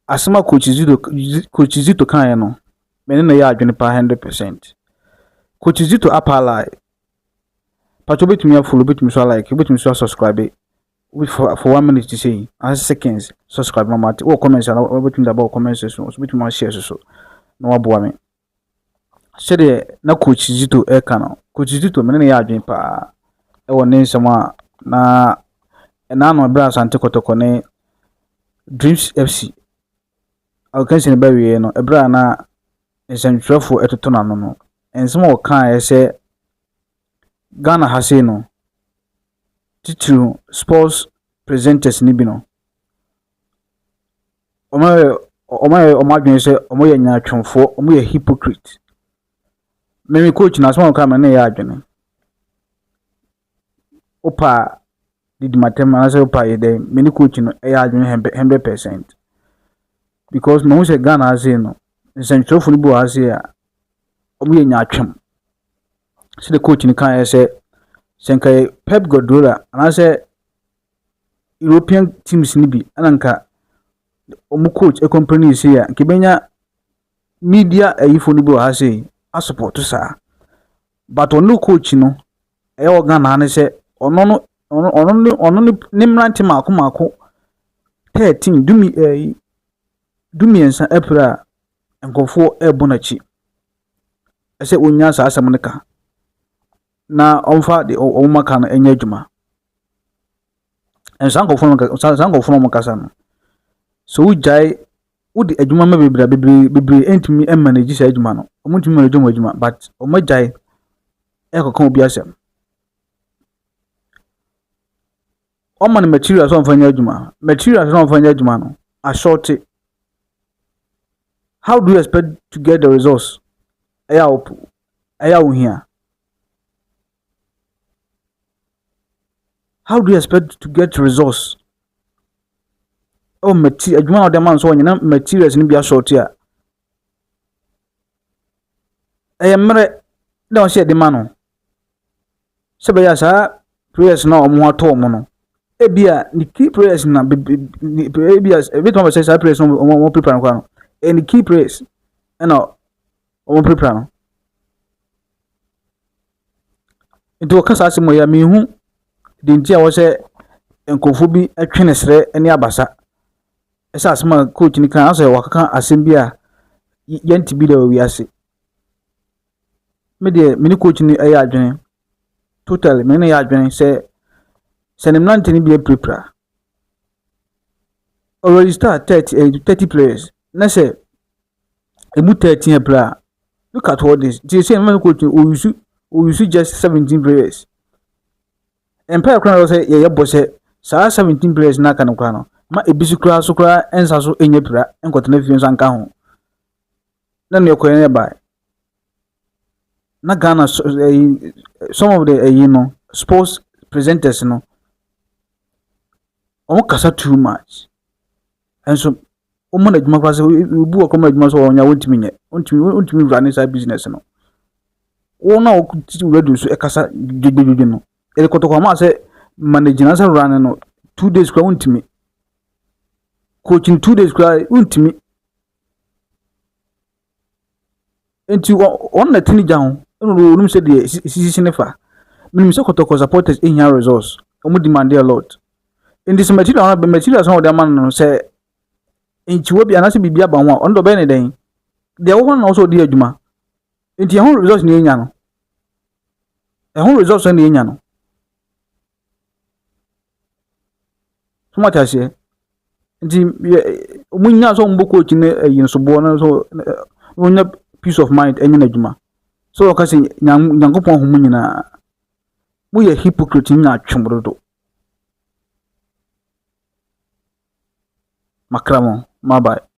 Asɛm a Coach Zito Coach Zito kaeɛ no, me ne no yɛ adwene paa hundred percent. Coach Zito apa lie. Pato betumi afolo, betumi so alike, betumi so asubscribe. For, for one minute ti sɛ yi, ase seconds, subscribe ma mate. Wɔ comments ana, wobɛtumi de aba wɔ comments so, so wobɛtumi ahyɛ so so, na waboa me. sɛdeɛ na Coach Zito ɛka no, Coach Zito mene ne yɛ adwene paa ɛwɔ ne nsɛm a na ɛna ano ɛberɛ Asante Kɔtɔkɔ ne Dreams FC akansi no bɛwieɛ no ɛberɛ a na nsɛmtwerɛfoɔ ɛtoto n'ano no nsɛm a ɔkaeɛ sɛ Ghana ha sei no titiriw sports presenters no bi no Wɔayɛ wɔayɛ wɔn adwene sɛ wɔyɛ nyaatwomfoɔ, wɔyɛ hypocrite. Me me coach no asɛm a ɔka me ne yɛ adwene. Wopa didi matam anaasɛ wopa yɛ dɛn, me ne coach no yɛ adwene hundred percent. Because mahu sɛ Ghana ha sei no, nsɛntwerɛfoɔ no bi wɔ ha sei a, wɔyɛ nyaatwom. Sɛdeɛ coach no kaeɛ sɛ, sɛ nka yɛ Pep Guardiola anaasɛ European teams no bi na nka wɔn coach complain sei a, nka ebenya media ayifo no bi wɔ ha sei asopɔto saa. But ɔno coach no, ɛyɛ wɔ Ghana ha no sɛ ɔno no ɔno ɔno ne ɔno ne ne mmerante mako mako thirteen dumi ɛyi eh, dumiɛnsa apira a nkurɔfoɔ rebɔ n'akyi. Ɛsɛ wɔnya saa asɛm no ka. na wɔmfa deɛ wɔn aka no nyɛ adwuma. Ɛnso saa nkurɔfoɔ no saa saa nkurɔfoɔ no a wɔkasa no, sɛ wogyae wode adwuma ma bebree a bebree bebree ntumi mmanage saa adwuma no. Wɔntumi mmanage wɔn adwuma but wɔagyae ɛrekɔka obi asɛm. Wɔma no materials a wɔmfa nyɛ adwuma. Materials a wɔmfa nyɛ adwuma no, asɔɔte. How do you expect to get the results? Ɛyɛ a ɛyɛ a ohia. How do you expect to get results? Oh, material, adwuma na ɔde ma nso ɔnyina materials no bi asɔɔte a. Ɛyɛ mmerɛ na ɔhyɛ ɛde ma no. Sɛ bɛyɛ saa prayers na wɔn atɔ wɔn no, ebi a ne key prayers na ebi a ebi tuma bɛ sɛ saa prayers na wɔn wɔn prepare no kora no, ɛyɛ ne key prayers ɛna wɔpirapira no. Nti wɔka saa asɛm wei a, menhu deɛ nti a ɛwɔ sɛ nkurɔfoɔ bi twe ne serɛ ne abasa sɛ asɛm a coach no ka no, asɛ wakeka asɛm bi a y- yɛnte bi da wɔ wiase. Me deɛ, me ne coach no yɛ adwene. Totally, me ne no yɛ adwene sɛ sɛ ne mmerante no bi apirapira. Already start thirty eh, thirty players na sɛ Emu taa teɛ paa. Look at all this, nti seesei mɛma no quote o use o use just seventeen prayers. Mpaeɛ koraa na ɔsɛ yɛyɛ bɔ sɛ saa seventeen prayers na aka no koraa no ma ebi so koraa so koraa nsa so nyɛ pira nkɔtena fie nso anka ho. Na nea ɛkɔɛ na ɛbae. Na Ghana so ɛyi some of the ɛyi no sports presenters no wɔn kasa too much. Nso wɔma no adwuma koraa sɛ obi wɔ kɔma adwuma sɛ ɔnyɛ wɔntumi nyɛ wɔntumi wɔntumi wura ne saa business no wɔn a wɔtete radio so ɛkasa dwodwodwo no ɛde kɔtɔkɔ ama sɛ manage na sɛ wura no no two days koraa wɔntumi coaching two days koraa wɔntumi Enti wɔ wɔn na tini gya ho ɛna wɔ wɔn sɛ deɛ sisi ne fa. Menim sɛ kɔtɔkɔ supporters ehia resource. Wɔn demand a lot. Enti sɛ material no materials na wɔde ama no no sɛ nkyiwa bi anaasɛ biribi aba ho a ɔno deɛ ɔbɛyɛ ne dɛn? Deɛ ɛwɔ hɔ na ɔsɛ ɔdi adwuma. Enti ɛho resource na yɛnya no. Ɛho resource na yɛnya no. So moate aseɛ? Nti yɛ wɔn nyinaa sɛ wɔbɔ coach ne ɛyi nsoboɔ no so wɔnya peace of mind ɛnyɛ n'adwuma. So wɔka sɛ Nyankopɔn ahu mu nyinaa. Moyɛ hypocrite nyinaa atwe mo dodo. Makra mo, mabae.